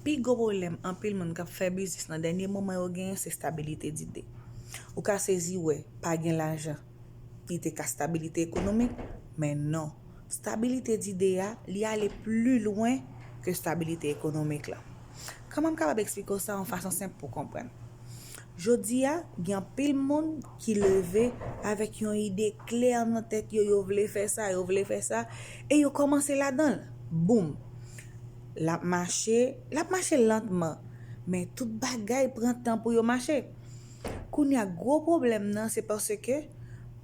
Pi gwo pwoblèm anpil moun k ap fè biznis nan dènye moman yo genyen se stabilite dide. Ou ka sezi wè pa gen lajan li te ka stabilite ekonomik, men non. Stabilite dide a, li ale pli lwen ke stabilite ekonomik la. Kòman m kapab eksplike w sa yon fason senp pou w konprann? Jodi a, gen anpil moun ki leve avèk yon ide klè nan tèt yo, yo vle fè sa, yo vle fè sa, e yo kòmanse ladan l. Boum! L ap mache, l ap mache lantman, men tout bagay pran tan pou yo mache. Kounye a, gwo pwoblèm nan se paske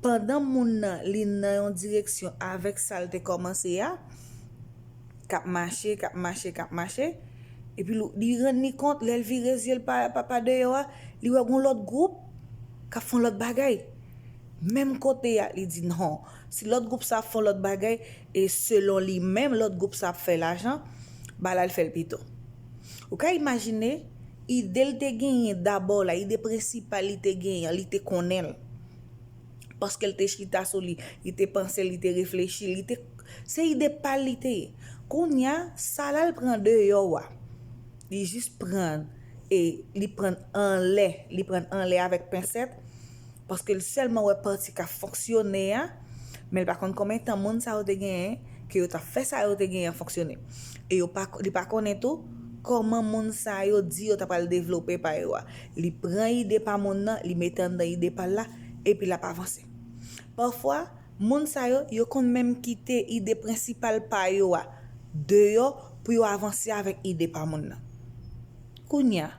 pandan moun nan li nan yon direksyon avèk sa l te kòmanse a, k ap mache, k ap mache, k ap mache, epi l li rann li kont, lè l vire zye l pa pa pa deyò a, li wè gon lòt gwoup k ap fè yon lòt bagay. Menm kote a, li di non, si lòt gwoup sa ap fè yon lòt bagay, e selon li menm lòt gwoup sa ap fè lajan, ba l al fè l pito. Ou ka imajine, ide l te genyen dabò la, ide prensipal li te genyen an, li te konnen l. Paske l te chita sou li, li te panse, li te reflechi, li te. Se ide pa l li te ye. Kounye a, sa l al pran deyò a, li jis pran l e li pran l anlè, li pran l anlè avèk pensèt, paske l sèlman wè pati k ap fonksyone a, men l pa konn konben tan moun sa yo te genyen ke yo t ap fè sa yo te genyen an fonksyone. E yo pa, li pa konnen tou, kòman moun sa yo di yo ta pral devlope pa yo a. Li pran ide pa moun nan, li mete anndan ide pa l la, epi l ap avanse. Pafwa, moun sa yo, yo konn menm kite ide prensipal pa yo a deyò pou yo avanse avèk ide pa moun nan. Kounye a,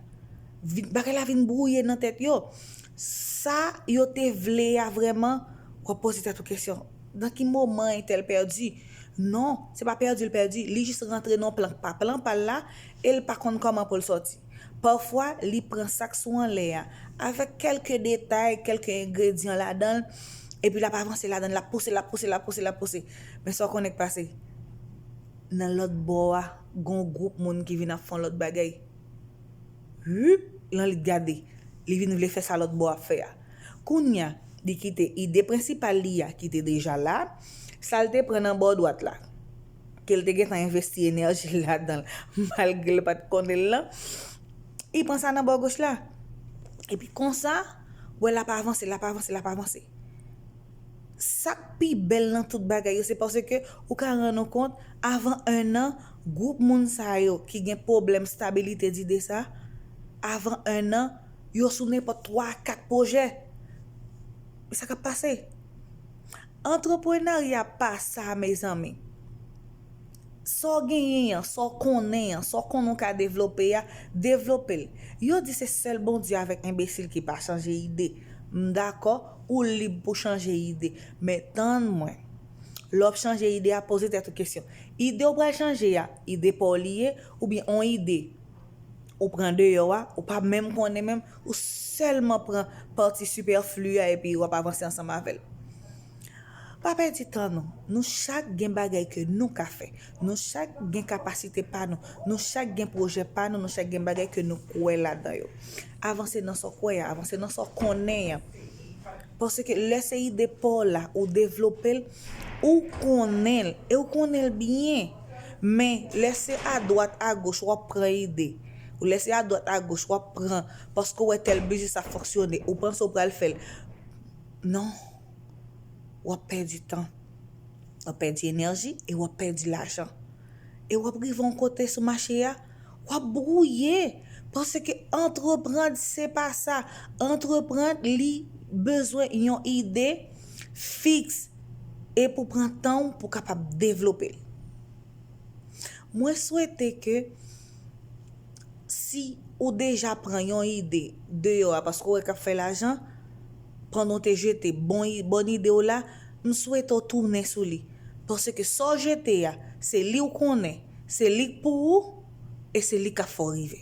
bagay la vin bwouye nan tèt yo. Sa yo te vle a vrèman, w ap poze tèt ou kesyon, nan ki moman entèl pèdi? Non, se pa pèdi l pèdi, li jis rantre nan yon plan k pa plan pa l la e l pa konn kòman pou l sòti. Pafwa, li pran sa k sou anlè a, avèk kèlke detay, kèlke engredyan ladan l, epi l ap avanse ladan l, l ap pouse, l ap pouse, l ap pouse, l ap pouse. Men sa w konnen k pase? Nan lòt bò a, gen yon gwoup moun ki vin ap fè yon lòt bagay. Huup! Lan li gade, li vin vle fè sa lòt bò a ap fè a. Kounye a, li kite ide prensipal li a ki te deja la, sa l te pran nan bò dwat la. ke l te gentan envesti enèji l ladan l malgre l pa t konnen l lan, li pran sa nan bò goch la. Epi konsa, wè l ap avanse, l ap avanse, l ap avanse. Sa k pi bèl nan tout bagay yo se paske ou ka rann ou kont avan ennan, gwoup moun sa yo ki gen pwoblèm stabilite dide sa, avan ennan, yo sou nenpòt twa, kat pwojè. Men sa k ap pase. Antreprenarya pa sa mezanmi. Sa w genyen an, sa w konnen an, sa w konnen w ka devlope a, devlope l. Yo di se sèl Bondye avèk enbesil ki pa chanje ide. M dakò, ou lib pou chanje ide. Men tann mwen. Lè w ap chanje ide a, poze tèt ou kesyon. Ide w pral chanje a, ide pa w li ye oubyen on ide Ou pran deyò a, ou pa menm konnen menm, ou sèlman pran pati sipèfli a epi wap avanse ansanm avè l. Pa pèdi tan nou. Nou chak gen bagay ke nou ka fè. Nou chak gen kapasite pa nou. Nou chak gen pwojè pa nou. Nou chak gen bagay ke nou kwè ladan yo. Avanse nan sa w kwè a. Avanse nan sa w konnen an. Paske lè se ide pa w la ou devlope l, ou konnen l e w konnen l byen. Men, lè se adwat agoch w ap pran ide, ou lè se adwat agoch w ap pran paske w wè tèl biznis ap fonksyone, ou panse w pral fè l. Non. W ap pèdi tan. W ap pèdi enèji e w ap pèdi lajan. E w ap rive yon kote sou mache a. Wap brouye panse ke entreprand se pa sa, entreprand li bezwen yon ide fix e pou pran tan w pou kapab devlope l. Mwen swete ke si ou deja pran yon ide deyò a paske ou wè kap fè lajan, pandan w te jete bon ide w la, m swete w tounen sou li. Paske sa w jete a, se li w konnen, se li k pou ou, e se li k ap fè w rive.